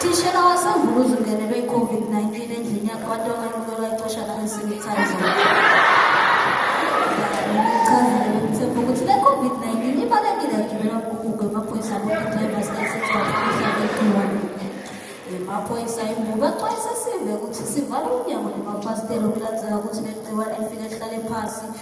Thishela wasevukuza ungenelwe i-COVID-19 endlini yakhe abantu abalukelwa icoshana ensinithazo. Chazile bemthemba ukuthi le COVID-19 ibalekile agibela umkhukhu emaphoyisa abokudrivers kasebakuhlabekiwani. Emaphoyisa imbuka axwayisa sive ukuthi sivale umnyango nemafasitela ukulandzela ukuthi le gciwane lifike lihlale phasi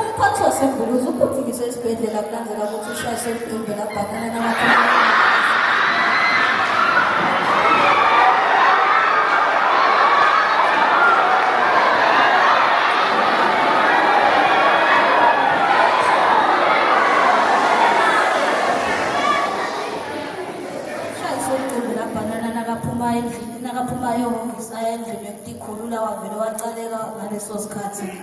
Umphathi waseMbuluzi uphuthunyiswe esibhedlela kulandela ukuthi ushayise umbhimbi labhakana namakhono.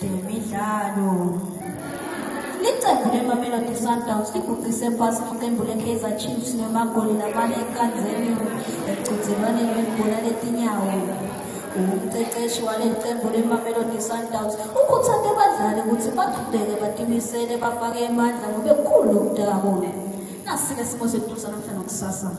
Demidlalo. Liqembu leMamelodi Sundowns liguqise phansi iqembu le-Kaizer Chiefs ngamagoli lamane ekanzeni emqhudelwaneni webhola letinyawo. Umqeqeshi waleli qembu leMamelodi Sundowns ukhuthaze abadlali ukuthi baqhubeke batimisele bafake emandla ngoba kukhulu ukudakwa. Nasi-ke simo sethu sanamhla nokusasa.